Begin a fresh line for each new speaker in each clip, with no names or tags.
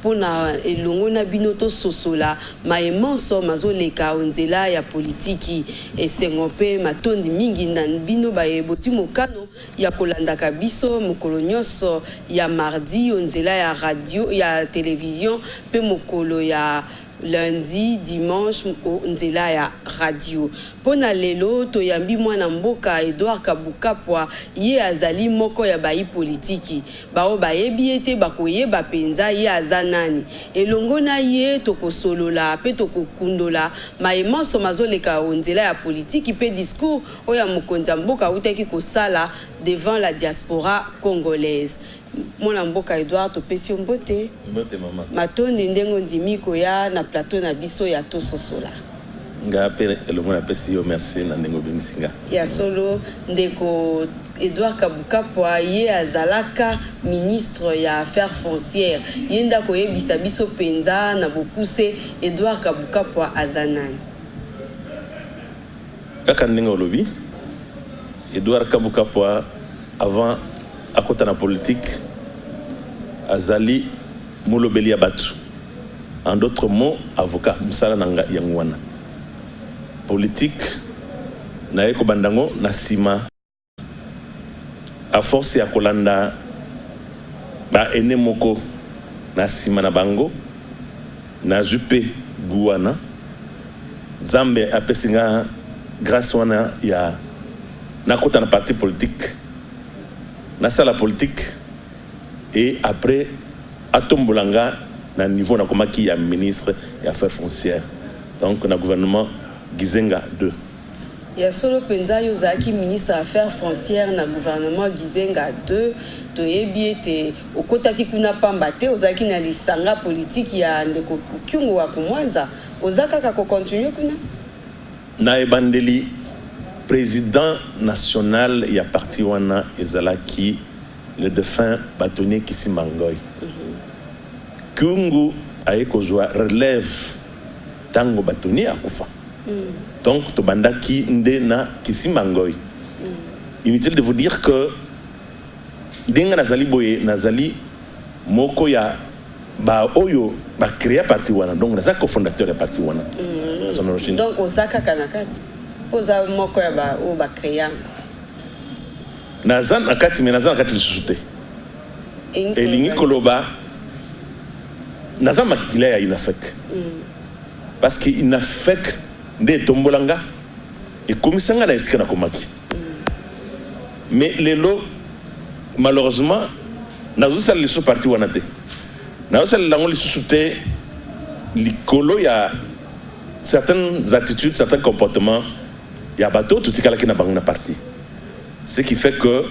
mpo na elongo na bino tososola maye manso mazoleka o nzela ya politiki. Esengo mpe matondi mingi na bino baye bozwi mokano ya kolandaka biso mokolo nyonso ya mardi o nzela ya radio, ya television mpe mokolo ya lundi, dimanche o nzela ya radio. Mpo na lelo toyambi mwana mboka Edouard Kabukapwa, ye azali moko ya bayi politiki Baoyo bayebi ye te bakoyeba mpenza ye aza nani. Elongo na ye, tokosolola mpe tokokundola maye manso mazoleka o nzela ya politiki mpe discours oyo ya mokonzi ya mboka awutaki kosala devant la diaspora congolaise. Mwana mboka Edouard, topesi yo mbote. Mbote mama.
Matondi ndenge ondimi
koya na plateau na biso ya Tososola. Nga mpe
elongo napesi yo merci na ndenge obengisi nga. Ya solo
ndeko. Edouard Kabukapwa ye azalaka ministre ya affaires foncières ye nde akoyebisa biso penza na bokuse Edouard Kabukapwa aza nani?
Kaka ndenge olobi Edouard Kabukapwa avant akota na politique azali molobeli ya batu en d'autres mots avocat mosala na nga yango wana politique naye kobanda ngo na sima A force ya kolanda ba haineux moko na sima na bango, nazwi mpe gout wana. Nzambe apesi nga grace wana ya nakota na parti politique, nasala politique et après atombola nga na niveau nakomaki ya ministre ya Affaires foncières, donc na gouvernement Gizenga ii. Ya solo
penza yo ozalaki ministre ya affaires foncières na gouvernement Gizenga ii, toyebi ete okotaki kuna pamba te, ozalaki na lisanga politique ya ndeko Kyungu wa Kumwanza, oza kaka ko continuer kuna? Na
ebandeli president national ya parti wana ezalaki le defunt Batonie Kisimba Ngoy. Kyungu aye kozwa relève. Tango batuni akufa donc tobandaki nde na kisimba ngoy inutile de vous dire que ndenge nazali boye nazali moko ya ba oyo ba crea parti wana donc naza cofondateur ya parti wana na zone origine donc
oza kaka na kati oza moko ya ba oyo ba crea naza
na kati mais naza na kati lisusu te elingi koloba naza makila ya inafec parce que inafec nde etombola nga ekomisa nga na esika nakomaki mais lelo malheureusement nazosala lisusu parti wana te nazosalela yango lisusu te likolo ya certaines attitudes certains comportements ya bato totikalaki na bango na parti Ce qui fait que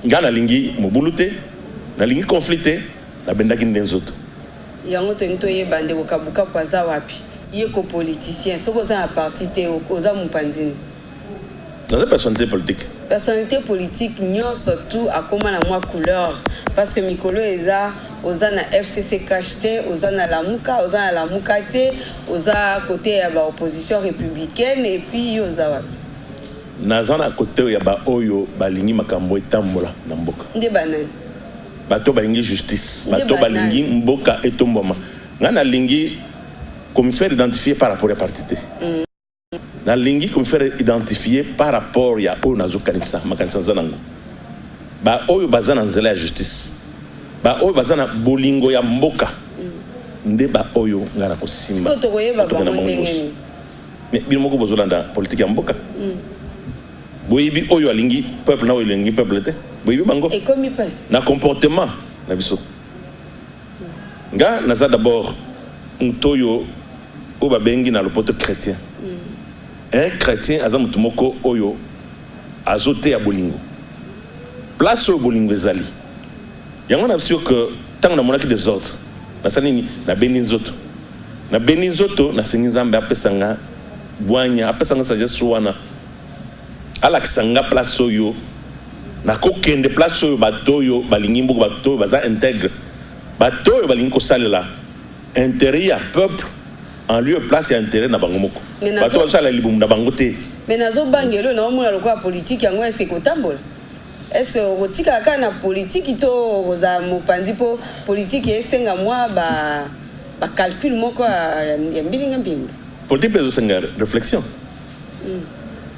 nga nalingi mobulu te, nalingi conflit te, nabendaki nde nzoto. Yango tolingi
toyeba ndeko Kabukapu aza wapi? Ye ko politicien soki oza na parti te oza mupanzi nini?
Naza personnalite politique. Personnalite politique
nionso tout akoma na mwa couleur parce que mikolo eza oza na FCC cash te, oza na Lamuka, oza na Lamuka te, oza cote ya ba opposition republicaine et puis yo oza wapi? Naza na
cote ya ba oyo balingi makambo etambola na mboka. Nde ba nani?
Bato balingi
justice, Nde bato ba balingi nani? mboka etombwama. Nga nalingi ko me faire identifier par rapport ya parti te. Nalingi ko me faire identifier par rapport ya oyo nazo kanisa, makanisa naza nango. Ba oyo baza na nzela ya justice, ba oyo baza na bolingo ya mboka, nde ba oyo nga nako simba, Sikoyo tokoyeba nako kende bango na
bango ndenge liboso. nini? Mais bino
moko bozo landa politique ya mboka. Mm. Boyebi oyo alingi peuple na oyo alingi peuple te. Boyebi bango. Et comme passe. Na
comportement
na biso. Nga naza d'abord mutoyo oyo babengi na lopoto chrétien. Mm. Un chrétien aza mutu moko oyo azoteya bolingo. Place oyo bolingo ezali. Yango na sur que tango na monaki desordre na sali nini na beni nzoto na beni nzoto na sengi nzambe apesa nga bwanya apesa nga sagesse wana alakisa nga place oyo nakokende place oyo bato oyo balingi mboka bato oyo baza integre bato oyo balingi kosalela interet ya peuple en lieu place ya interet na bango moko bato bazosala libumu
na
bango
te me nazobangela oyo
naomona
lokola politike yango
eske
kotambola Est ce que okotika kaka na politique to oza mopanzi po politique esenga mwa ba ba calcul moko ya mbilinga mbilinga. Politique pezo senga
réflexion.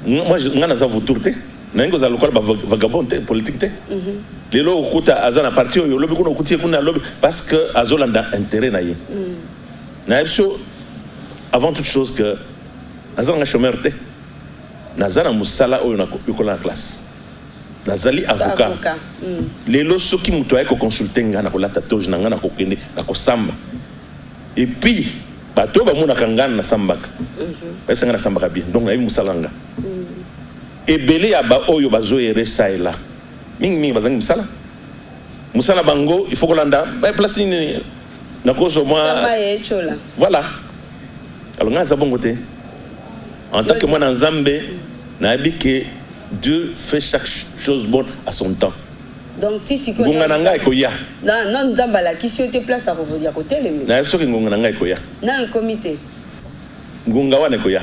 Mm. Moi je ngana za voutour te. Na ngo za lokola ba vagabond te politique te. Mm -hmm. Lelo okuta aza na parti oyo lobi kuna okuti kuna lobi parce que azolanda intérêt na ye. Mm. Na epso avant toute chose que aza nga chômeur te. Naza na musala oyo na yokola na classe. nazali avocat avocat mm. lelo soki moto ayaki koconsulte ngai nakolata toge na ngai nakokende nakosamba epuis bato oyo bamonaka ngai nasambaka mhm. bayebisa ngai nasambaka bien donc nayebi mosala nga mm. ebele ya baoyo bazoeresa ela mingimingi bazangi mosala mosala bango il faut kolanda eh, place nini nakozwa mwa voilà alors ngai aza bongo te en tant que mwana nzambe nayebi ke Dieu fait chaque chose bonne à son temps. Donc ti siko.
Ngonga na ngai koya.
Na na nzamba la
kisi ote place ya kovodia koteleme. Na yeso ke ngonga na ngai
koya. Na komite.
Ngonga
wana koya.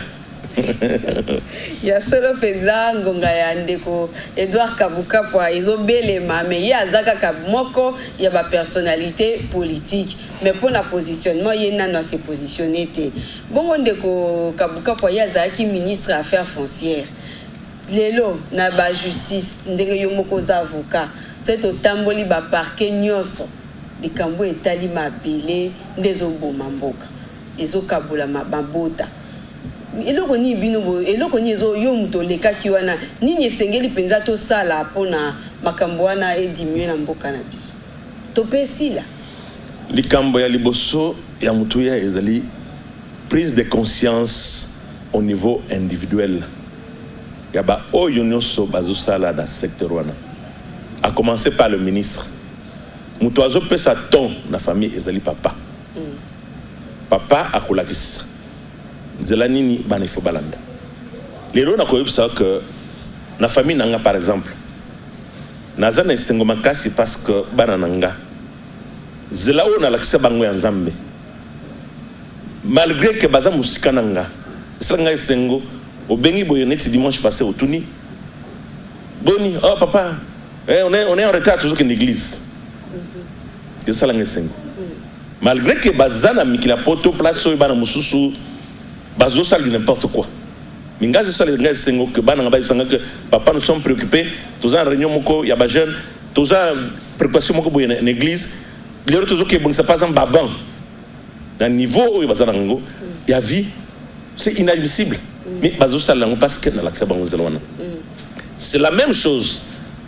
ya solo mpenza ngonga ya ndeko edouard kabukapwa ezobelema me ye aza kaka moko ya bapersonnalité politique me mpo na positionnement ye nano ase positionne te bongo ndeko kabukapwa ye azalaki ministre ya affaire foncière Lelo na ba justice ndenge yo moko oza avocat soki totamboli ba parquet nionso likambo oyo etali mabele nde ezo boma mboka ezo kabola mabota eloko nini bino bo eloko nini ezo yo moto olekaki wana nini esengeli mpenza tosala mpo na makambo wana edimue na mboka na biso topesila likambo
ya liboso ya motuya ezali prise de conscience au niveau individuel ya ba oyo nioso bazo sala na secteur wana a commencer par le ministre mutu azo pesa ton na famille ezali papa mm. papa akolakisa nzela nini bana ifo balanda lelo nakoyebisa ke na famille na nga par exemple naza na esengo makasi parce que bana na nga nzela oyo nalakisa bango ya nzambe malgre que baza musika na nga esala nga esengo obengi boye neti dimanche passé otuni boni oh papa eh, on est on est en retard toujours kende église mm-hmm. esala nga esengo mm. malgre que baza na mikila poto place oyo bana mosusu bazosala du n'importe quoi mais ngai ezosala ngai esengo que bana nga bayebisanga que papa nous sommes préoccupés toza na réunion moko ya bajeune toza préoccupation moko boye na église lelo tozo ke bongisa pas en baban na niveau oyo baza na ngo ya vie c'est inadmissible mais bazo sala ngo parce que na lakisa bango zela wana c'est la même chose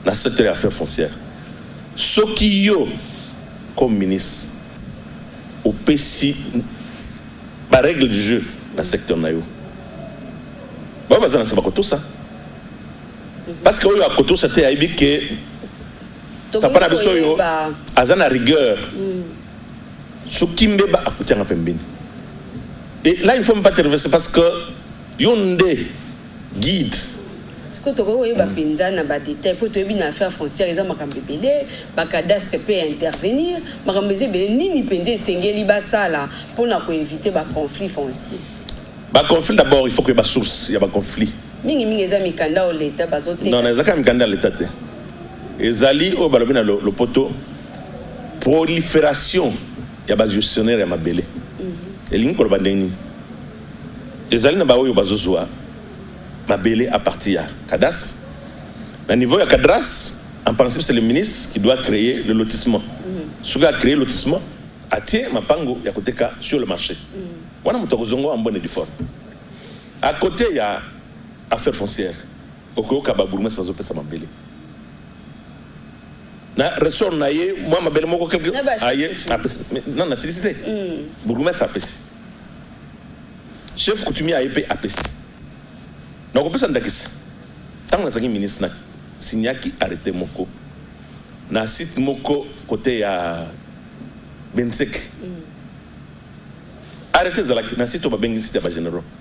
na secteur ya affaires foncières soki yo comme ministre opesi ba règle du jeu na secteur na yo baoyo baza na se bakotosa parce que oyo akotosa te ayebi ke papa na biso oyo aza na rigueur mm. soki mbeba akotianga pembeni et là il faut me pas te reverser parce que yo nde guide sikoyo
tokoki koyeba mpenza na badetail mpo toyebi na affaire foncière eza makambo ebele bacadastre mpe ya intervenir makambo eza ebele nini mpenza esengeli basala mpo na koevite baconflit foncier baconflit
d'abord il faut koyeba source ya baconflit mingimingi eza
mikanda oyo leta bazoteezaka mikanda ya leta
te Ezali oyo balobi na lopoto proliferation ya ba gestionnaire ya mabele. Elingi koloba ndenge nini? Ezali na baoyo bazozwa mabele à partir ya cadastre. Na niveau ya cadastre, en principe c'est le ministre qui doit créer le lotissement. Soki a créer lotissement, atie mapango ya koteka sur le marché. Wana moto akozongo en bonne et due forme. À côté ya affaire foncière, Okoyoka ba bourgmestre bazo pesa mabele na ressort na ye mwa mabele moko quelque aye apesi na na silisi te hmm. bourgmestre apesi chef coutumier aye mpe apesi na kopesa ndakisa ntango nazalaki ministre na signaki arrete moko na site moko kote ya benseke hmm. arrete ezalaki na site oyo babengi site ya bagénéraux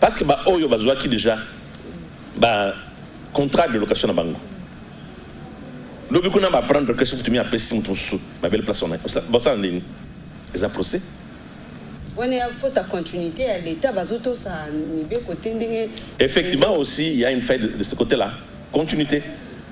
Parce que ba oyo bazuaki dejà ba contrat de location na bango lobi kuna ba prendre que soki tumi apesi moto mosusu ma belle place wana basala ndeni eza procès
wana ya faute ya continuité ya l'état bazotosa mibeko te ndenge effectivement
aussi il y a une faille de, de ce côté là continuité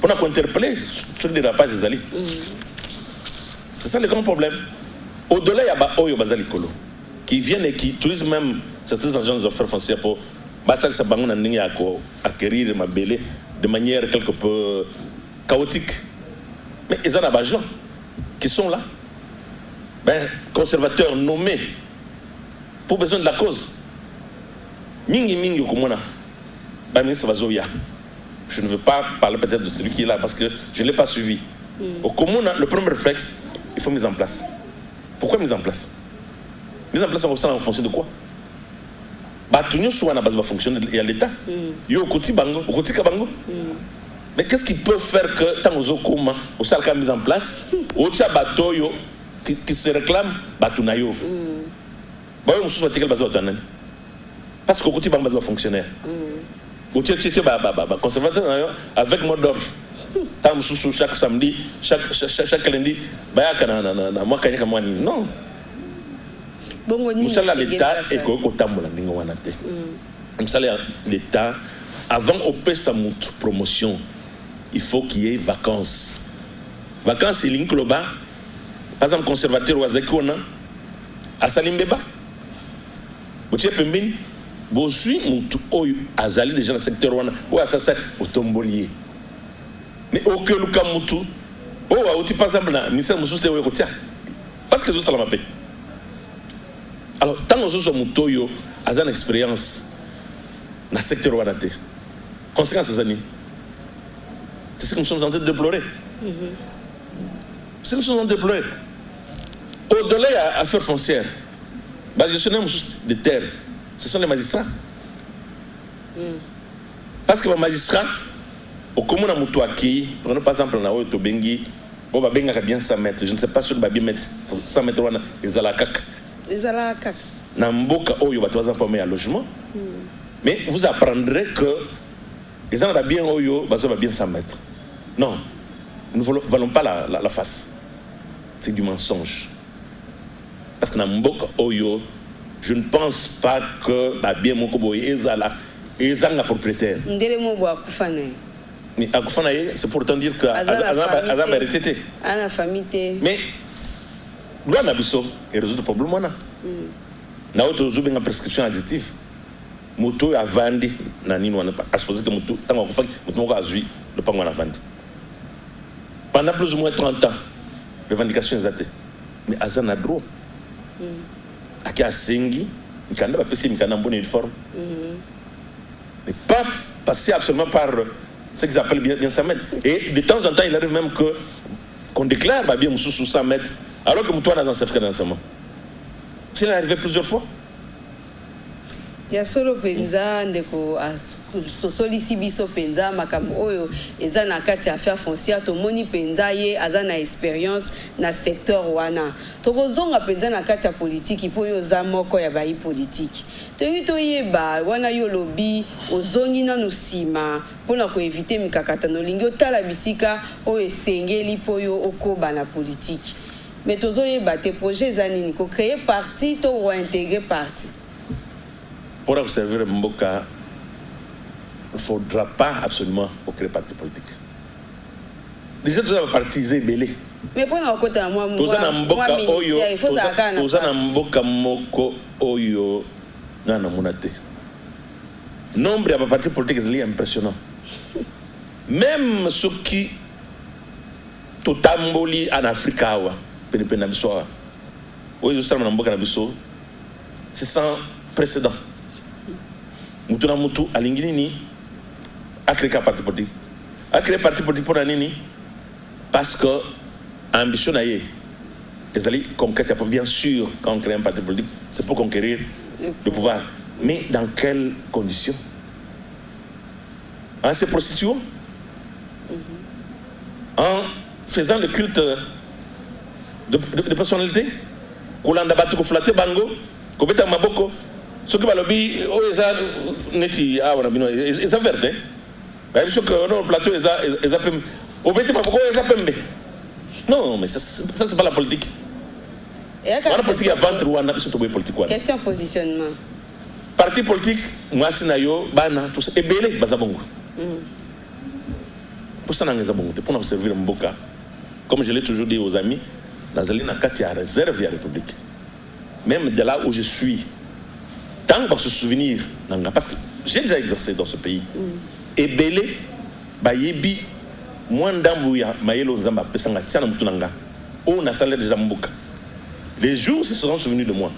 Pour ko interpeller sur des rapages ezali. Mm. C'est ça le grand problème. Au-delà ya ba oyo bazali kolo qui viennent et qui utilisent même certains agents des affaires foncières pour basalisa bango na ndenge ya ko acquérir mabele de manière quelque peu chaotique. Mais ils en ont gens qui sont là, ben, conservateurs nommés pour besoin de la cause. Mingi mingi okomona ba ministre bazoya je ne veux pas parler peut-être de celui qui est là parce que je ne l'ai pas suivi. Mm. Au Komona, le premier réflexe, il faut mise en place. Pourquoi mise en place Mise en place, on en fonction de quoi bato nyonso wana baza bafonctionne ya l'état mm. yo okoti bango okotika bango mm. mais qu'est ce qui peut faire que ntango ozokoma osalaka mise en place otia bato oyo qui se réclame bato na yo mm. Ba oyo mususu batikali baza bato ya nani? Parce que okuti bango baza ba fonctionnaire. Otie tie tie ba ba ba, ba conservateur na yo avec mot d'ordre. Tant mususu chaque samedi, chaque chaque, chaque lundi bayaka na na na, na mwa kanyaka mwa nini. Non. Bongo nini? Musala l'etat ekoki kotambola ndenge wana te. Musala ya l'etat avant opesa mutu promotion il faut qu'il y ait vacances. Vacances elingi koloba aza mu conservateur oyo azalaki wana asali mbeba botie pembeni bozwi mutu oyo azali deja na secteur wana oyo asasa otomboli ye mais okeluka mutu oyo awuti par exemple na ministère mosusu te oyo kotia parce que ezosalama mpe alors ntango ozozwa moto oyo aza na expérience na secteur wana te conséquence eza nini c'est ce que nous sommes en train de déplorer mm -hmm. Sisi sont des problèmes. Au-delà ya affaire foncière, ba gestionnaires mosusu de terre, ce sont les magistrats. Mm. Parce que ba magistrats okomona moto akei, prenons par exemple na oyo tobengi oyo babengaka bien 100 mètres, je ne sais pas soki babie mètre 100 mètres wana ezalaka kaka. Ezalaka kaka. Na mboka oyo bato baza problème ya logement. Mm. Mais vous apprendrez que Eza na ba bien oyo baza ba bien sans maître. Non, nous ne valons pas la, la, la face. C'est du mensonge. Parce que na mboka oyo, je ne pense pas que ba bien moko boye ezala ezanga propriétaire. Ndele mo bo akufa na ye. Mais akufa na ye, c'est pour autant dire que aza ba recette. Ana famille te. Mais loi na biso et résoudre problème wana. Mm. Na oyo tozo benga prescription additive. Moto oyo avandi na nini wana a supposer que moto tango akufaki moto moko azwi lopango wana avandi pendant plus ou moins 30 ans revendication eza te mais aza na droit ake asengi mikanda bapesi ye mikanda mbona uniforme mais pas passer absolument par ce qu'ils appellent bien, bien 100 mètres et de temps en temps il arrive même que qu'on déclare babie mosusu 100 mètres alors que moto wana aza na certificat d'enseignement cela est arrivé plusieurs fois
Ya solo mpenza ndeko asosolisi biso mpenza makambo oyo eza na kati ya affaire foncière tomoni mpenza ye aza na experience na secteur wana tokozonga mpenza na kati ya politiki mpo yo oza moko ya bayi politiki tolingi toyeba wana yo olobi ozongi nanu nsima mpo na koevite mikakatano olingi otala bisika oyo esengeli mpo yo okoba na politiki Mais tozo yeba te projet eza nini ko cree parti to ko integre parti.
Pona ko servir mboka il faudra pas absolument ko cree parti politique. Déjà toza ba parti eza ebele. Mais pona okota
na mwa toza na mboka
oyo toza na mboka moko oyo na namona te. Nombre ya ba parti politique ezali impressionnant. Même soki Totamboli an Afrika awa pene pene na biso awa oyo ezo salama na mboka na biso c'est sans precedent. Mutu na mutu alingi nini a cree ka parti politique. A cree parti politique pona nini? Parce que ambition na ye ezali conquête ya bien sûr quand on cree un parti politique c'est pour conquérir le pouvoir mais dans quelles conditions? en se prostituant, en faisant le culte de, de, de personnalité, kolanda bato koflate bango kobeta maboko soki balobi oyo oh, eza neti awa na bino eza verte bayebi soki no plateau eza eza pembe obeti maboko oyo oh, eza pembe non mais ça, ça c'est pas la politique wana politique ya ventre wana biso toboye politique wana question positionnement
Parti
politique muasi na yo bana tout ça ebele baza bongo mposa nanga eza bongo te mpo na koservir mboka comme je l'ai toujours dit aux amis nazali na kati ya réserve ya république même de là où je suis ntango bako se souvenir na nga parce que j'ai déjà exercé dans ce pays ebele bayebi mwa ndambo ya mayele oyo nzambe apesanga tia na motu na nga oyo nasalela deja mboka les jours se seront souvenus de moi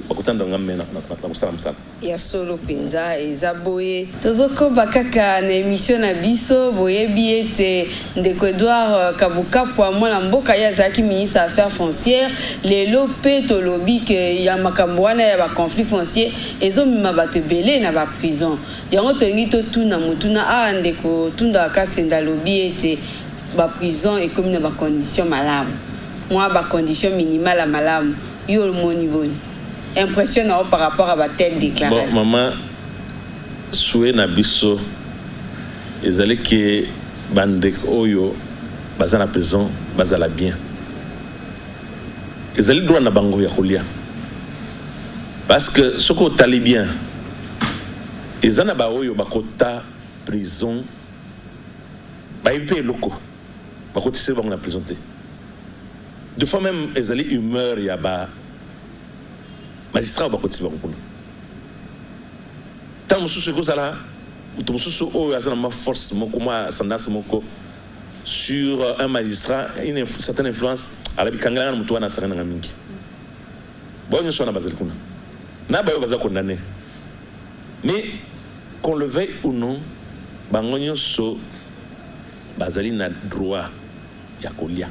Bakotanda nga mais nakosala
mosala. Ya solo penza eza boye. Tozokoba kaka na emission na biso boyebi ete ndeko Edouard euh, Kabukapwa mwana mboka ye azalaki ministre ya affaires foncières lelo mpe tolobi ke ya makambo wana ya ba conflit foncier ezomema bato ebele na ba prison yango tolingi totuna motuna awa ndeko Tunda Kasenda alobi ete ba prison ekomi na ba conditions malamu mwa ba conditions minimale ya malamu Yo omoni boni impression na yo par rapport à ba telle declaration? Bon maman,
souhait na biso ezali ke ba ndeko oyo baza na prison bazala bien. Ezali droit na bango ya kolia. Parce que soki otali bien eza na ba oyo bakota prison bayebi pe eloko. bakotiseli bango na prison te de fois meme ezali humeur ya ba magistrat oyo bakotisi bango kuna ntango mosusu ekozala moto mosusu oyo aza na mwa force moko mwa ascendance moko sur un magistrat une influ, certaine influence alabi kangelanga na moto wana asaka nanga mingi baoyo nyonso wana bazali kuna na bayo baza condamne mais qu'on le veuille ou non bango nyonso Bazali na droit ya kolia.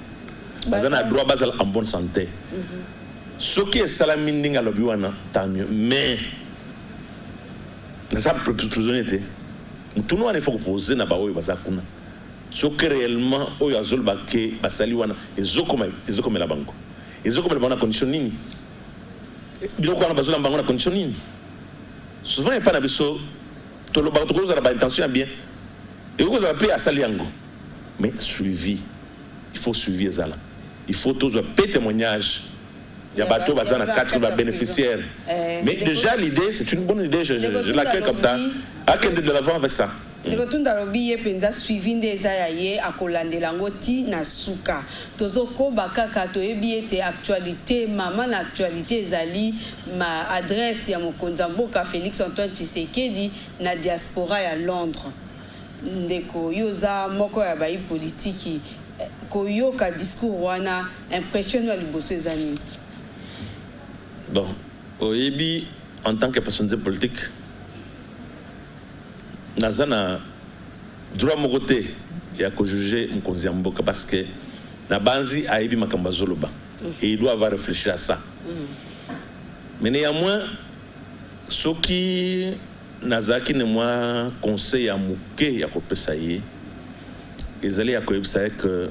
Baza na droit bazala en bonne sante. Mhm. Soki esalami ndenge alobi wana tant mieux mais naza prisonnier te. Motuna wana ifo kopose na baoyo baza kuna soki réellement oyo azoloba ke basali wana ezokomela bango ezokomela bango na condition nini biloko wana bazolamba bango na condition nini souvent epai na biso tolobaka tokozala baintention ya bien Ekoki kozala pe asali yango mais suivi il faut suivi ezala il faut tozwa pe temoignage ya bato oyo baza na kati kuna ba beneficiaire eh, mais déjà l'idée c'est une bonne idée je, je, je l'accueille comme ça akende de l'avant avec ça ndeko tunda alobi ye
mpenza suivi nde eza ya ye akolandela yango ti na suka tozokoba kaka toyebi ete actualité mama na actualité ezali ma adresse ya mokonzi ya mboka félix antoine tshisekedi na diaspora ya Londres ndeko yo oza moko ya bayi politiki koyoka discours wana impression ya liboso eza nini
bon oyebi en tant que personnalité politique naza na droit moko te ya kojuge mokonzi ya mboka parce que nabanzi ayebi makambo azoloba et il doit avoir réfléchi à ça mais néanmoins Soki nazalaki na mwa conseil ya moke ya kopesa ye, ezali ya koyebisa ye que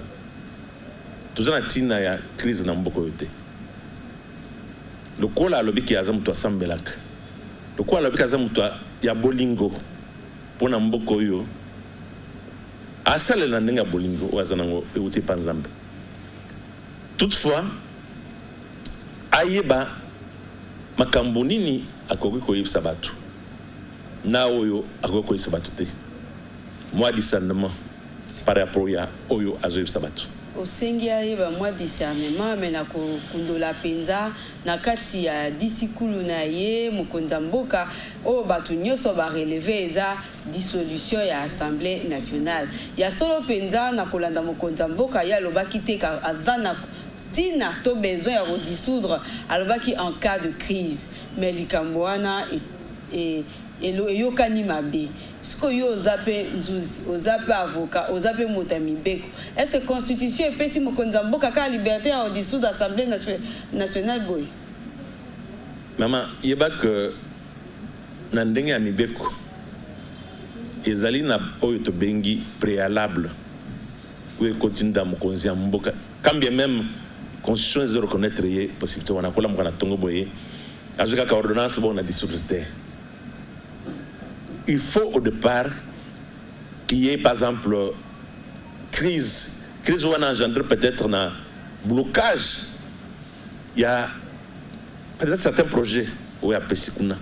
toza na ntina ya crise na mboka oyo te. Lokola alobi ke aza moto asambelaka, lokola alobi ke aza moto ya bolingo mpo na mboka oyo, asalela na ndenge ya bolingo oyo aza nango euti epa Nzambe. Toutefois, Ayeba makambo nini akoki koyebisa bato na oyo akoki koyebisa bato te. Mwa discernement par rapport ya oyo azoyebisa bato. Osengi ayeba
mwa discernement mais na kokundola penza na kati ya disikulu na ye, mokonzi ya mboka, oyo bato nyoso ba relever eza dissolution ya Assemblee nationale. Ya solo penza na kolanda mokonzi ya mboka, ye alobaki te que aza na Tina to besoin ya ko dissoudre alobaki en cas de crise mais likambo wana eyokani mabe sikoyo yo oza pe nzuzi oza pe avocat oza pe moto ya mibeko est ce que constitution epesi mokonzi ya mboka kaka liberte ya ko dissoudre assemblée nationale boye
mama yeba ke na ndenge ya mibeko ezali na oyo tobengi prealable oyo ekotinda mokonzi ya mboka Quand bien meme constitution ezo reconnaitre ye possibilite wana akolamuka na tongo boye azwi kaka ordonnance bon na dissoudre te il faut au départ qu'il y ait par exemple crise crise wana engendre peut-être na blocage ya peut-être certains projets oyo apesi kuna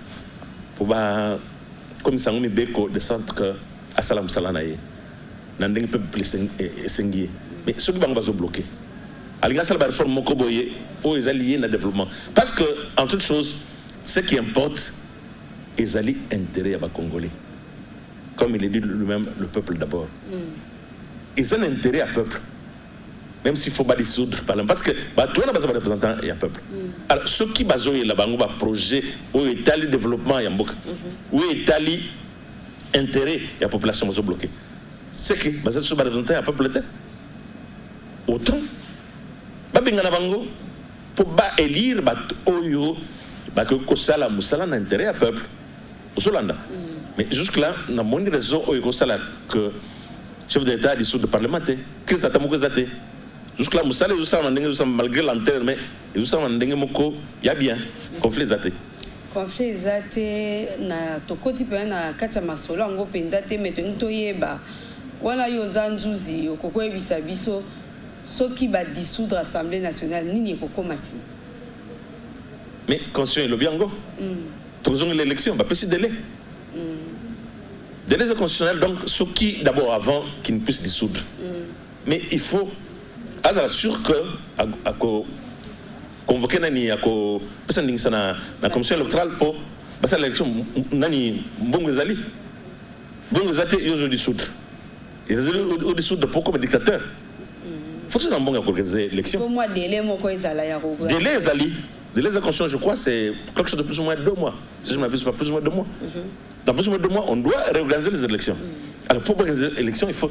mpo bakomisa yango mibeko de sorte que asala mosala na ye na ndenge peuple esengi ye mais soki bango bazo bloquer alingi asala bareforme moko boye oyo eza liye na développement parce que en toute chose ce qui importe ezali intérêt ya bacongolais comme il est dit lui-même le peuple d'abord mm. eza na intérêt ya peuple même s'il faut badissoudre parlement parce que bato wana baza barepresentant ya peuple mm. alors soki bazoyela bango baprojet oyo etali développement ya mboka mm-hmm. oyo etali interet ya population bozo bloquer seke bazali biso ba representant ya peuple te autant babengana bango mpo ba elire bato oyo bakoki kosala mosala na interet ya peuple ozolanda mm. mais jusque là namoni raison oyo ekosala que chef de l'état dissoudre parlement te crise ata moko eza te jusque là mosala ezosala na ndenge ezosala malgré lenteur mais Ezosalama na ndenge moko ya bien. Conflit eza te. Conflit
eza te na tokoti mpenza na kati ya masolo yango mpenza te, mais tolingi toyeba wana yo oza nzuzi okokoyebisa biso soki ba dissoudre Assemblee nationale nini ekokoma nsima?
Mais constitution elobi yango. Mm. Tozongela election, bapesi délai. Mm. Délai eza constitutionnel donc soki d'abord avant qu'il ne puisse dissoudre. Mm. Mais il faut azala sur que ako convoquer nani ako pesa ndingisa na, na commission électorale mpo basala élection nani mbongo ezali mbongo eza te yo ozodissoudre ezali odissoudre mpo comme dictateur mm. faut tozala mbongo ya koorganize élection délai moko
ezala ya délai ezali
délai eza conscient je crois c'est quelque chose de plus ou moins deux mois si je m'abuse pas plus ou moins deux mois mm -hmm. dans plus ou moins deux mois on doit réorganiser les élections mm. alors pour organiser l'élection il faut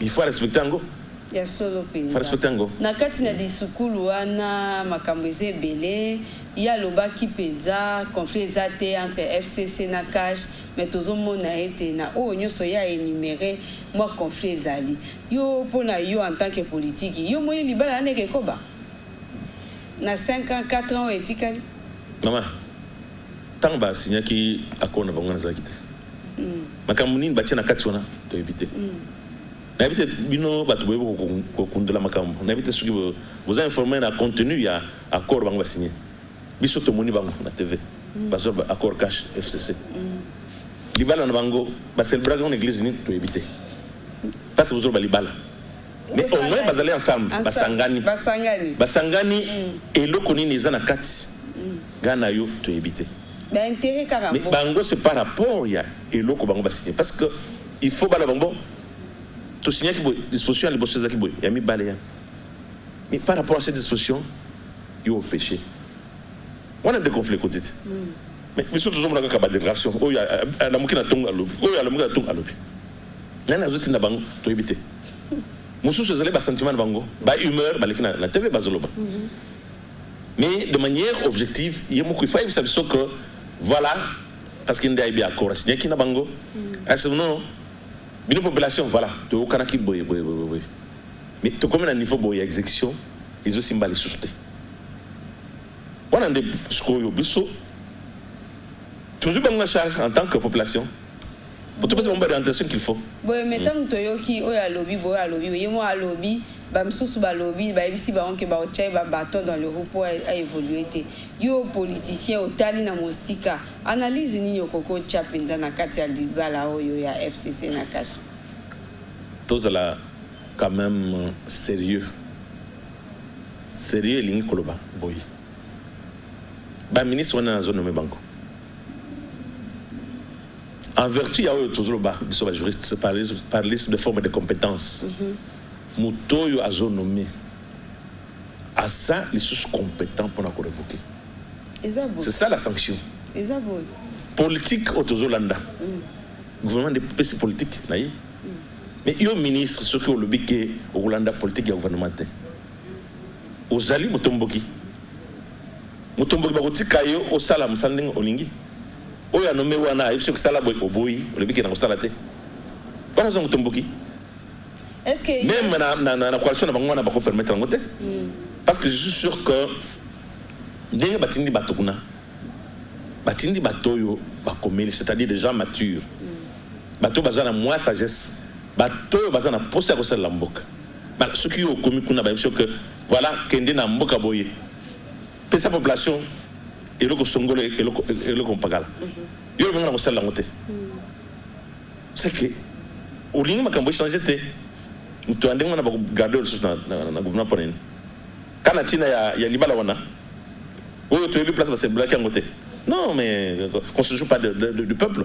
Il faut respecter yango. Ya solo
penza. Faut respecter yango. Na kati
na disukulu
wana makambo eza ebele. Ye alobaki penza conflit eza te entre FCC na CACH mais tozomona ete na oyo nyonso ye a enumere mwa conflit ezali. Yo mpo na yo en tant que politiki, yo omoni libala wana ekekoba? Na 5 ans, 4 ans oyo etikali? Mama,
ntango ba signaki accord na bango nazalaki te. makambo nini batie na kati wana toyebi te nayebi te bino bato boyebi kokundela makambo nayebi te soki boza informe na contenu ya accord bango basigne biso tomoni bango na tv mm. bazwa accord cash fcc mm. libala na bango bacelebraka yango na église nini toyebi te mpasi bozoloba libala mais au moins bazali ensemble basangani basangani mm. eloko nini eza na kati ngai na yo toyebi te ba interet
kaka mais bango c'est par
rapport ya eloko bango ba signer parce que il faut bala bango to signer ki boye disposition ya liboso ezaki boye ya mibale ya mais par rapport à cette disposition yo opeshe wana nde conflit ekoti te mais biso tozomona kaka badéclaration oyo alamuki na ntongo alobi oyo alamuki na ntongo alobi nani azotinda bango toyebi te mosusu ezali basentiment na bango bahumeur baleki na tv bazoloba Mais de manière objective, il moko il faut ayebisa biso que voilà parce qu'il ndeyebi accord asignaki na bango mm. asema non bino population voilà toyokanaki boye boye boye boye mais tokomi na niveau boye ya exécution ezosimba lisusu te wana nde sikoyo biso tozwi bango na charge en tant que population Otopesa bango baorientation qu'il faut. Boye me ntango toyoki
oyo alobi boye alobi ye mwa alobi bamisusu balobi bayebisi bango ke baotya ye babaton dans le roue mpo aévolue te yo politicien otali na mosika analyse nini okoki otya mpenza na kati ya libala oyo ya fcc na kashe
tozala quand même euh, sérieux sérieux elingi koloba boye baministre wana nazonome bango en vertu ya oyo tozoloba biso ba juriste par, par liste de forme de compétence mm -hmm. moto oyo azonome aza lisusu compétent mpona korevoke c'est ça la sanction eza boye politique oyo tozolanda mm. gouvernement nde pesi politique na ye mm. mais yo ministre soki olobi ke okolanda politique ya gouvernement te ozali motomboki Motomboli bakotika yo osala mosala ndenge olingi. Oyo anome wana ayebi soki sala boye oboyi, olobi ke nakosala te. Wana oza motomboki.
Meme na, na, na, na
coalition na bango wana bako permettre yango te. Mm. Parce que je suis sûr que ndenge batindi bato kuna batindi bato oyo bakomeli c'est-à-dire des gens matures mm. bato oyo baza na mwa sagesse bato oyo baza na mposa ya kosalela mboka Mais soki yo okomi kuna bayebisi yo que voilà kende na mboka boye pesa population eloko songolo eloko eloko mpakala yo olobanga na kosalela yango te c'est que olingi makambo echange te moto ya ndenge wana bakogarde yo lisusu na, na, na gouvernement mpo na nini ka na ntina ya, ya libala wana oyo toyebi place baseblaki yango te non mais qu'on se joue pas de, de, de, du peuple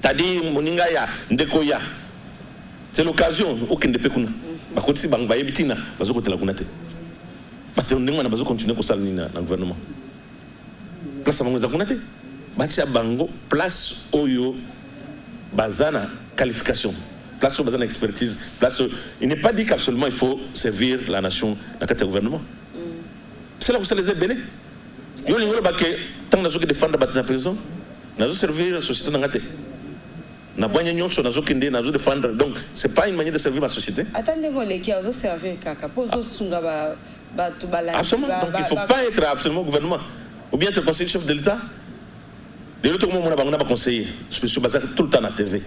Taddy moninga ya ndeko ya c'est l'occasion okende mpe kuna bakotisi bango bayebi ntina bazokotela kuna te bato ndenge wana bazokontinue kosala nini na gouvernement place bango eza kuna te batia bango place oyo baza na qualification place oyo baza na expertise place oyo il n'est pas dit qu'absolument il faut servir la nation na kati ya gouvernement bisala kosala eza ebele yo olingi oloba ke ntango nazokende fanda bato na prison Nazo servir societe na nga te. Na bwanya nyonso nazo kende nazo defendre donc c'est pas une manière de servir ma societe. Ata ndenge oleki ozo
servir kaka po ozo sunga ba bato balandi. Absolument donc il faut pas
être absolument gouvernement ou bien être conseiller chef de l'État. Lelo tokomo mona bango na ba conseiller spéciaux baza tout le temps na TV.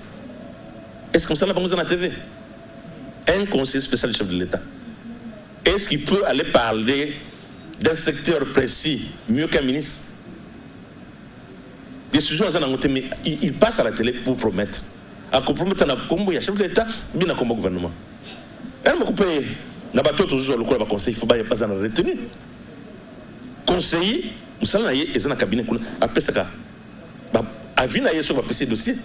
Est-ce que msala bango za na TV? Un conseiller spécial chef de l'État. Est-ce qu'il peut aller parler d'un secteur précis mieux qu'un ministre Decision aza nango te mais il passe à la tele pour promettre. A compromettre na kombo ya chef de l'etat bi na kombo gouvernement. Elle me coupe na bato tozozwa lokola ba conseil faut ba baza na retenu. Conseiller mosala na ye eza na cabinet kuna apesaka ba avis na ye soki bapesi dossier.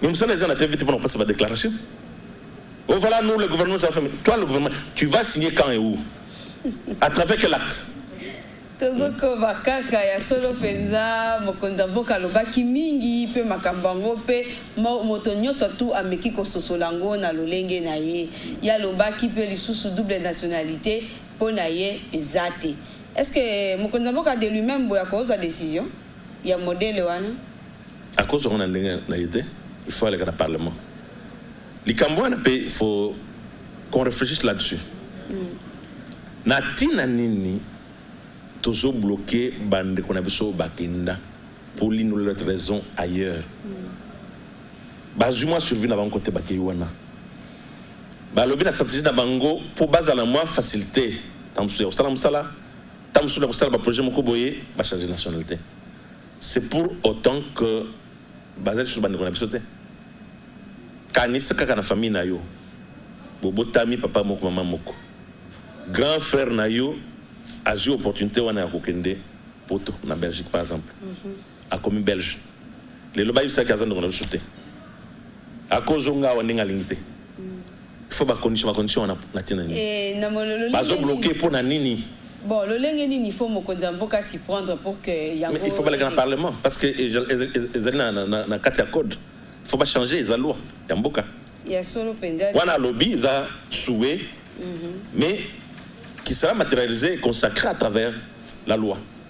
Mais mosala eza na TV te mpona kopesa ba déclaration. Oh voilà nous le gouvernement ça fait toi le gouvernement tu vas signer quand et où? À travers quel acte? Tozo
koba kaka ya solo penza mokonzi ya mboka alobaki mingi pe makambo yango pe moto nyoso tout ameki ko sosola yango na lolenge na ye ye alobaki pe lisusu double nationalite po na ye eza te est ce que mokonzi ya mboka de lui meme boye akozwa decision ya modele wana akozwa
yango na ndenge na ye te il faut aleka na parlement. Likambo wana pe il faut qu'on reflechisse là dessus. Na tina nini tozo bloquer ba ndeko na biso ba kenda pour l'une ou l'autre raison ailleurs? Bazui mwa survie na bango cote ba keyi wana. Ba lobi na strategie na bango po bazala na mwa facilite tango mosusu ya kosala mosala, tango mosusu na kosala ba projet moko boye ba changer nationalite. C'est pour autant que Baza lisusu bandeko na biso te. Kanisa kaka na famille na yo, bobotami papa moko mama moko, grand frère na yo azwi opportunité wana ya kokende poto na Belgique par exemple, akomi belge, lelo bayebisaki aza ndeko na biso te, akozonga awa ndenge alingi te. il faut ba condition ba condition wana na tina nini eh na mololo bazo bloquer pour na nini bon lolenge
nini il faut mokonzi ya mboka s'y prendre pour que yango mais il faut baleka na parlement
parce que ezali na na na kati ya code il faut ba changer eza loi ya mboka ya
solo
penza
wana lobby
za souhait
mhm.
mais qui sera matérialisé et consacré à travers la loi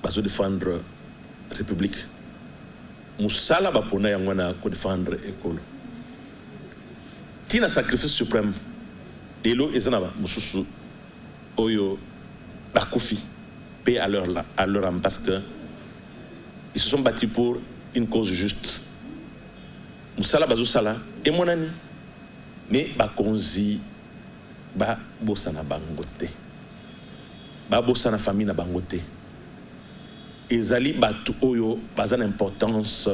Bazo defendre republique musala ba pona yango wana ko defendre ekolo ti na sacrifice supreme lelo eza na ba mususu oyo bakufi pe à leur à leur âme parce que ils se sont battus pour une cause juste musala bazo sala emonani mais bakonzi Ba bosana bango te. Ba bosana famille na bango te. Ezali batu oyo baza na importance.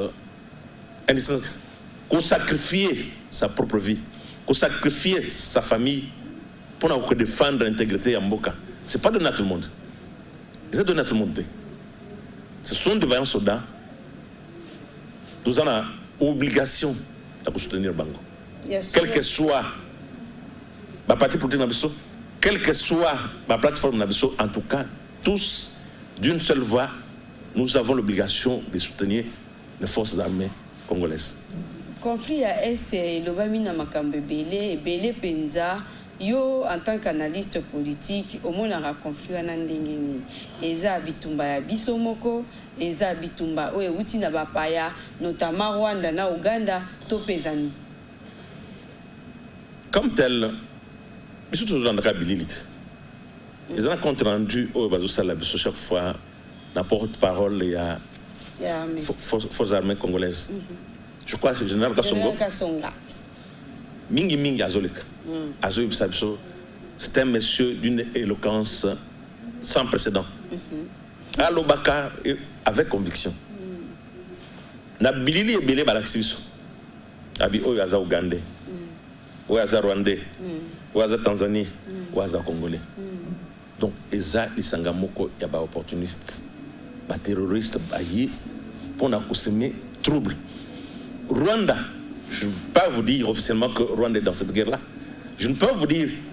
Ko sacrifier sa propre vie, ko sacrifier sa famille pour na ko défendre l'intégrité ya mboka. C'est pas donné à tout le monde. Eza donné à tout le monde te. Ce sont des vaillants soldats. Toza na obligation ya ko soutenir bango. yes, quel que soit ba parti politique na biso quel que soit ba plateforme na biso en tout cas tous d'une seule voix nous avons l'obligation de soutenir les forces armées congolaises conflit
ya est elobami na makambo ebele ebele mpenza yo en tant qu'analyste politique omonaka conflit wana ndenge nini eza bitumba ya biso moko Eza bitumba oyo ewuti na ba paya notamment Rwanda na Ouganda to pezani.
Comme tel biso tozo landa kaka bilili te eza na compte rendu oyo bazo sala biso chaque fois na porte parole ya forces armées congolaises mm -hmm. je crois que général kasongo mingi mingi azoleka mm. azoyebisa biso c'est un monsieur d'une éloquence sans précédent mm -hmm. alobaka eh, avec conviction na bilili ebele balakisi biso abi oyo aza ugandais oyo aza rwandais oyo aza tanzanie oyo aza congolais donc eza lisanga moko ya baopportuniste baterroriste baye mpo na koseme trouble rwanda je ne peux pas vous dire officiellement que rwanda est dans cette guerre là je ne peux pas vous dire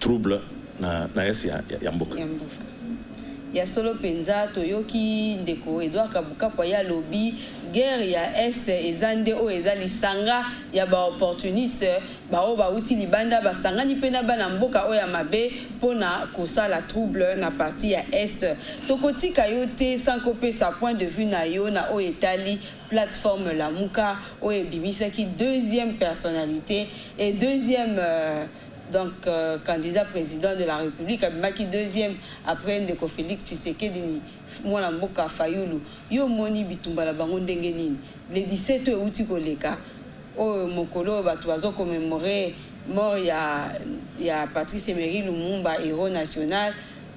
trouble na, na est ya, ya, ya mboka. Ya mboka.
Ya solo penza toyoki ndeko Edouard Kabukapwa ya lobi guerre ya est eza nde oyo eza lisanga ya ba opportuniste baoyo bauti libanda basangani mpe na bana mboka oyo ya mabe mpo na kosala trouble na parti ya est tokotika yo te sans kopesa point de vue na yo na oyo etali plateforme lamuka oyo ebimisaki deuxième personnalité et deuxième euh, Donc candidat president de la republique abimaki deuxième après ndeko Felix Tshisekedi ni mwana mboka Fayulu. Yo omoni bitumba na bango ndenge nini? Le 17 oyo ewuti koleka oyo mokolo oyo batu bazo commemorer mort ya ya Patrice Emery Lumumba heros national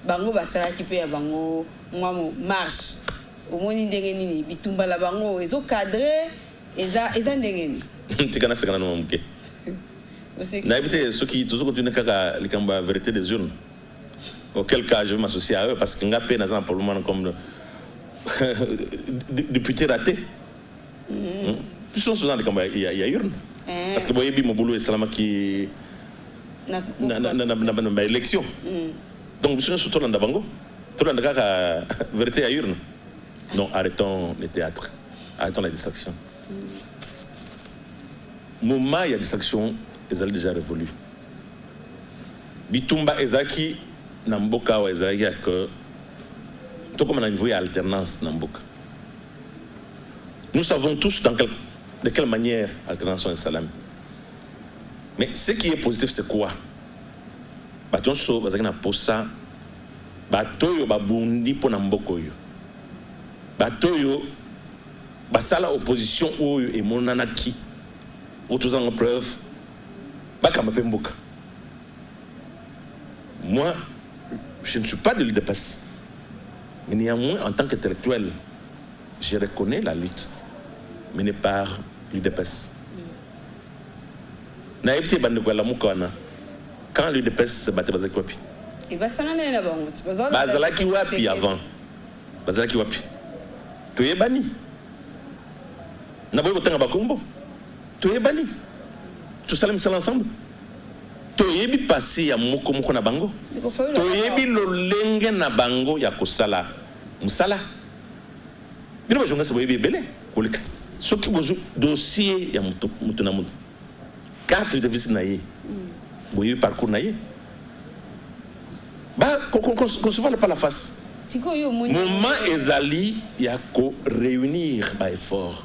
bango basalaki pe ya bango mwa marche. Omoni ndenge nini bitumba na bango ezo cadrer Eza eza ndenge ni. Tika na sekana no muke.
Nayebi te soki tozo continuer kaka likambo ya verite des urnes. Auquel cas je vais m'associer à eux parce que nga pe naza na problème wana comme député raté. Mm. Tout ça dans likambo ya ya urne. Eh. Parce que boyebi mobulu esalamaki na na na na na élection. Mm. Donc biso nyonso tolanda bango. Tolanda kaka verite ya urne. Non, arrêtons le théâtre. Arrêtons la distraction. Moment ya distraction ezali déjà révolu. Bitumba ezalaki na mboka awa ezalaki ya que tokoma na niveau ya alternance na mboka. Nous savons tous dans quel, de quelle manière alternance est salami. Mais ce qui est positif, c'est quoi Batonso, bazaki na posa Bato oyo babundi mpo na mboka oyo, bato oyo basala opposition oyo emonanaki, oyo toza nango preuve, bakamba mpe mboka. Moi, je ne suis pas de l'UDPS, mais néanmoins, en tant qu'intellectuel, je reconnais la lutte menée par l'UDPS. Nayebi te bandeko ya lamuka wana camp l'udps bate bazalaki wapi? Et basangana ye na bango te. Bazalaki wapi avant? Bazalaki wapi? Toyebani. Naboyi kotanga bakombo. Toyebani. Tosala misala ensemble. toyebi pasi ya moko moko na bango toyebi lolenge na bango ya kosala mosala Bino ba journaliste boyebi ebele koleka soki bozwi dossier ya moto moto na moto carte de visite na ye boyebi parcours na ye ba qu'on se voile pas la face sikoyo omoni moment ezali ya ko réunir ba effort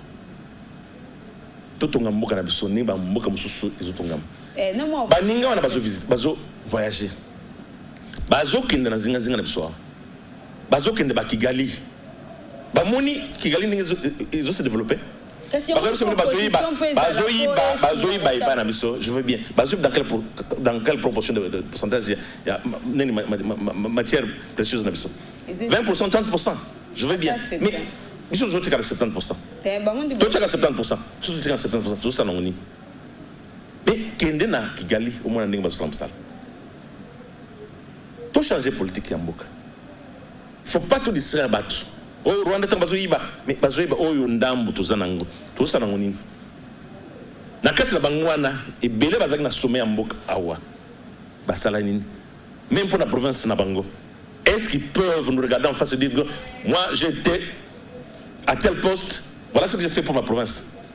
totonga mboka na biso ndenge bamboka mosusu ezotongama Eh, na mwa baninga wana bazo visite bazo voyager bazokende na zingazinga na biso awa Bazokende ba Kigali. Bamoni Kigali ndenge ezo- e- ezo se développer. Kasi yango Bakoyebisa bino bazoyiba, proposition mpe ezala bazoyiba, mpo esi bazoyiba bakata. ebana biso. Je veux bien. Bazoyiba dans quelle pro- dans quelle proportion de, de pourcentage ya- ya ma- nini ma- ma- ma- ma- matière précieuse na biso? Ezali- 20%, 30%. Je veux bien. Ata 70. Mais biso tozotikala 70%. Te, bango nde totyaka 70 soki totyaka 70 tozosala nango nini mpe kende na kigali omona ndenge bazosala mosala To changer politique ya mboka. Faut pas tout distraire batu. Oh Rwanda tango bazo yiba, mais bazo yiba oyo ndambu toza nango. Tosa nango nini? Na kati na bango wana ebele bazaki na sommet ya mboka awa. Basala nini? Même pour la province na bango. Est-ce qu'ils peuvent nous regarder en face et dire moi j'étais à tel poste, voilà ce que j'ai fait pour ma province.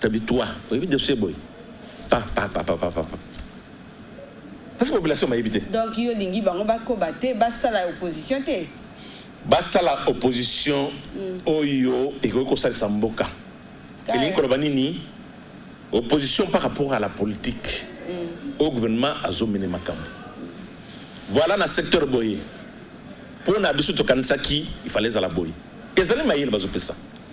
Tabi toi, oyebi dossier boy. Pa pa pa pa pa pa. Parce que population bayebi te. Donc yo lingi bango
bakoba te, basala opposition te.
Basala opposition mm. oyo ekoki kosalisa mboka. Elingi koloba nini? Opposition par rapport à la politique. Mm. Au gouvernement azomene makambo. Voilà na secteur boye. Pour na biso tokanisaki, il fallait ezala boye. Ezali mayele bazopesa.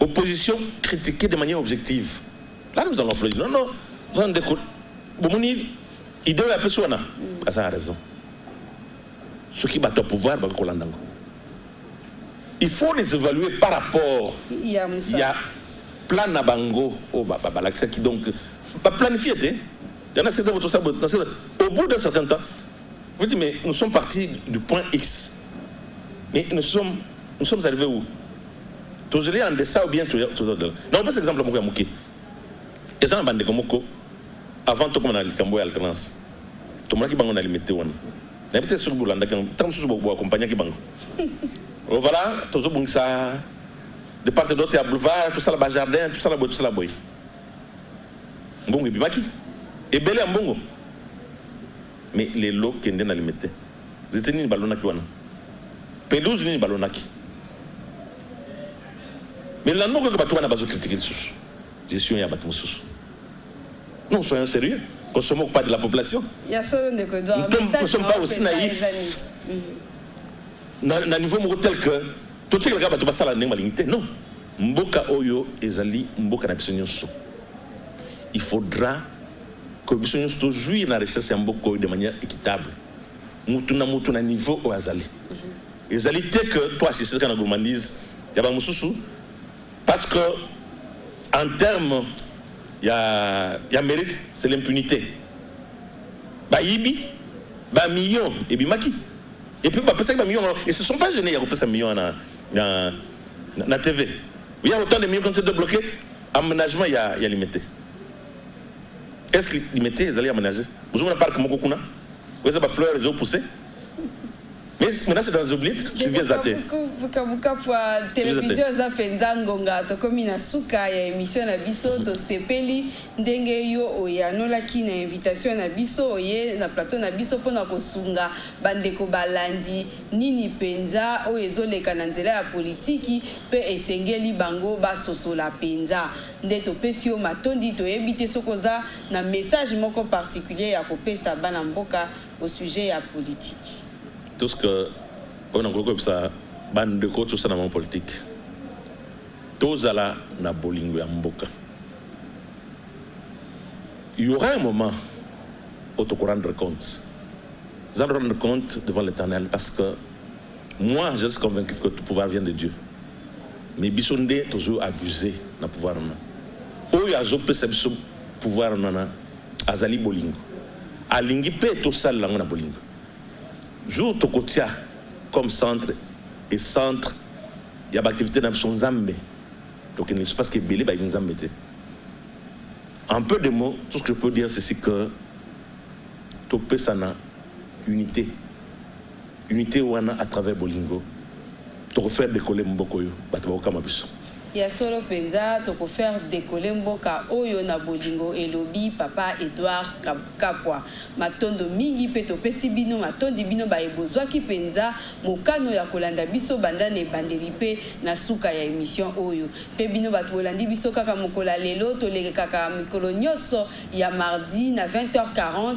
opposition critiquer de manière objective là nous allons applaudir non non vraiment ndeko bomoni idée oyo apesi wana mm. aza na raison soki bato ya pouvoir bakoki kolanda ngo il faut les évaluer par rapport ya plan na bango oyo oh, balakisaki donc baplanifie te yana seta boto sa boto au bout d'un certain temps vous dites mais nous sommes partis du point x mais nous sommes Nous sommes arrivés où? Tozali en deçà ou bien toza au-delà? Nakopesa exemple moko ya moke. Eza na bandeko moko avant tokoma na likambo ya alternance, tomonaki bango na limete wana. Nayebi te soki bolandaki yango, ntango mosusu boakompagnaki bango. Oh, voilà, tozobongisa de part et d'autre ya boulevard, tosala ba jardin, tosala boye, tosala boye. Mbongo ebimaki, ebele ya mbongo. Mais lelo kende na limete. Nzete nini balonaki wana? Pelouse nini balonaki? Mais la moko que bato wana bazo critiquer lisusu gestion ya bato mosusu. Non, soyons sérieux. Qu'on se moque pas de la population. Ya solo ndeko
Edouard. Nous sommes pas aussi
naïfs. Mhm. Na, na niveau moko tel que totikelaka bato basala ndenge balingi te. Non. Mboka oyo ezali mboka na biso nyonso. Il faudra que biso nyonso to jouir na richesse ya mboka oyo de manière équitable mutu na mutu na niveau oyo azali mhm. ezali te que to assiste kaka na gourmandise ya ba mosusu parce que en terme ya ya mérite c'est l'impunité bayibi ba millions ebimaki et puis bapesaki ba millions et ce sont pas gênés ya kopesa millions na na na TV il y a autant de millions qui ont été débloqués aménagement ya ya limité Est-ce que limete ezali aménagé ozomona parc moko kuna oyo eza bafleur ezo pousse mais maintenant c'est dans les oubliettes suivi eza te bukabukapu ya
televizio eza mpenza ngonga tokomi na suka ya émission na biso tosepeli ndenge yo oyanolaki na invitation na biso oye na plateau na biso mpo na kosunga bandeko balandi nini mpenza oyo ezoleka na nzela ya politiki mpe esengeli bango basosola mpenza Nde topesi yo matondi, toyebi te soki oza na message moko particulier ya kopesa bana mboka au sujet ya politique. Tout ce que
oyo nakoki koyebisa bandeko tosala bango politique tozala na bolingo ya mboka il y aura un moment où tu rendre compte. Vous allez rendre compte devant l'éternel parce que Moi, je suis convaincu que tout pouvoir vient de Dieu. Mais biso nde tozo abuser na pouvoir na. Oyo azo pesa biso pouvoir na azali bolingo. Alingi pe to sala lango na bolingo. Jour tokotia comme centre et centre ya ba activité na biso Nzambe. Donc ne parce que belé ba Nzambe te. En peu de mots, tout ce que je peux dire c'est que to pesana unité Unite wana à travers bolingo toko faire decoller mboka oyo bato bakokama biso. Ya solo
penza toko faire decoller mboka oyo na bolingo elobi papa Edouard Kapwa. Matondo mingi mpe topesi bino matondi bino baye bozwaki penza mokano ya kolanda biso banda na ebandeli mpe na suka ya emission oyo. Mpe bino bato bolandi biso kaka mokolo ya lelo tolekaka mikolo nyoso ya mardi na 20h40